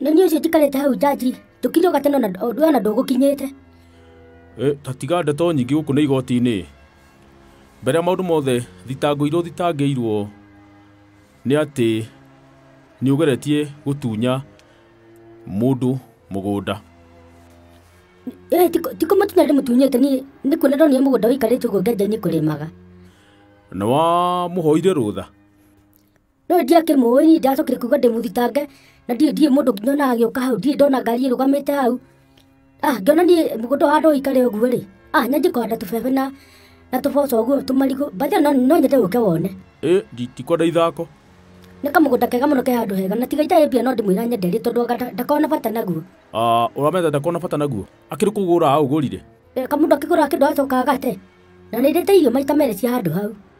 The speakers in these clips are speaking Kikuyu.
na niä å cio njikarä hau njanji tå kinyå gatene ona ndå gå kinyä te Eh, ta tiga ndeto nyingĩ gũkũ nĩ igoti-inĩ mbere ya maũndũ mothe thitango irĩa ũthitangĩirwo nĩ atĩ nĩ ũgeretie gũtunya mũndũ mũgũnda tikå må tunya ndä må tunyä te niä nä kuona ndonire må gå nda wä ikarä te å guo ngenja-inä kå rä maga na wamũhoire rũtha no ndiakĩmũĩ niĩ ndacokire kuga ndĩmũthitange na ndiĩ ndiĩ mũndũ nginya ona agĩũka hau ndiĩ ndona ngari ĩrũgamĩte hau ah ngĩona niĩ mũgũnda wa andũ ũikare ũguo rĩ ah nyanjie kũhanda tũbebe na na tũboco ũguo tũmarigũ bathi no no nyende ũke wone ĩ ndikwenda ithako nĩ kamũgũnda kega mũno ke handũ hega na tiga itarĩ mbia no ndĩmwĩra nyende rĩ tondũ anga nda- ndakorwo na bata naguo Ah, ũramenda ndakona bata naguo akĩrĩ kũgũra aũgũrire Reka mũndũ akĩgũra kĩndũ acoka agate na nĩndĩte irio maita merĩ cia handũ hau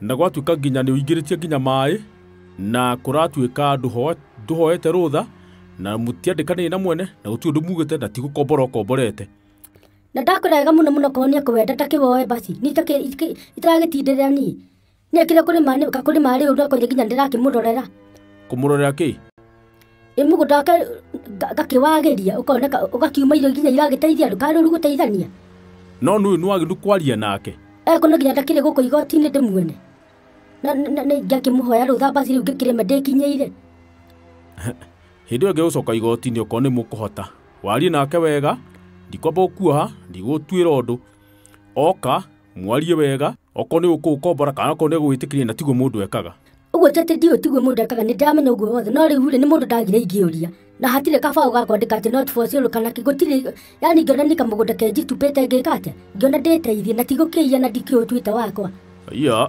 na gwatuĩka nginya nĩ ũingĩrĩtie nginya maĩ na kũratuĩka ndũho- ndũhoete rũtha na mũtiandĩkanĩire na mwene na gũtirĩ ũndũ mugĩte na tigũkombora ũkomborete na ndakwĩraga mũno mũno korwo nĩ akũwenda ta kĩwoe basi nĩ itakĩ- itakĩ- itaragĩtindĩrĩra niĩ nĩekire kũrĩ ma nĩ- ka kũrĩ marĩ ũndũ akoire nginya ndĩrakĩmũrorera kũmũrorera kĩ mũgũnda wake ngakĩwagĩria ũkoneka ũgakiuma irio nginya iragĩteithia andũ karũru gũteithania no nĩ ũyũ nĩwagĩrĩru kwaria nake eko no nginya ndakĩrĩ gũkũ igoti-inĩ ndĩmuone Na- na- na- ngakĩmũhoya rũtha basi rĩu ngĩkĩrĩme ndĩkinyĩire hĩndĩ ĩyo ngĩgũcoka igoti-inĩ okorwo nĩ mũkũhota warie nake wega ndikwamba gũkuoha ndigũtuĩra ũndũ oka mwarie wega okorwo nĩ gũkũkombora kana okorwo nĩ gũgwĩtĩkĩria na tiguo mũndũ ekaga ũguo ti atĩ ndiũĩ tiguo mũndũ ekaga nĩ ndamenya ũguo wothe no rĩu rĩ nĩ mũndũ ndagire ingĩũria na hatirĩ kabaũ gakwandĩka atĩ not for sale kana kĩ gũtirĩ yani ngĩona nĩ kamũgũnda kenjitupĩte ngĩka atĩa ngĩona ndĩteithie na tigũkĩiya na ndikĩũtuĩte wakwa iya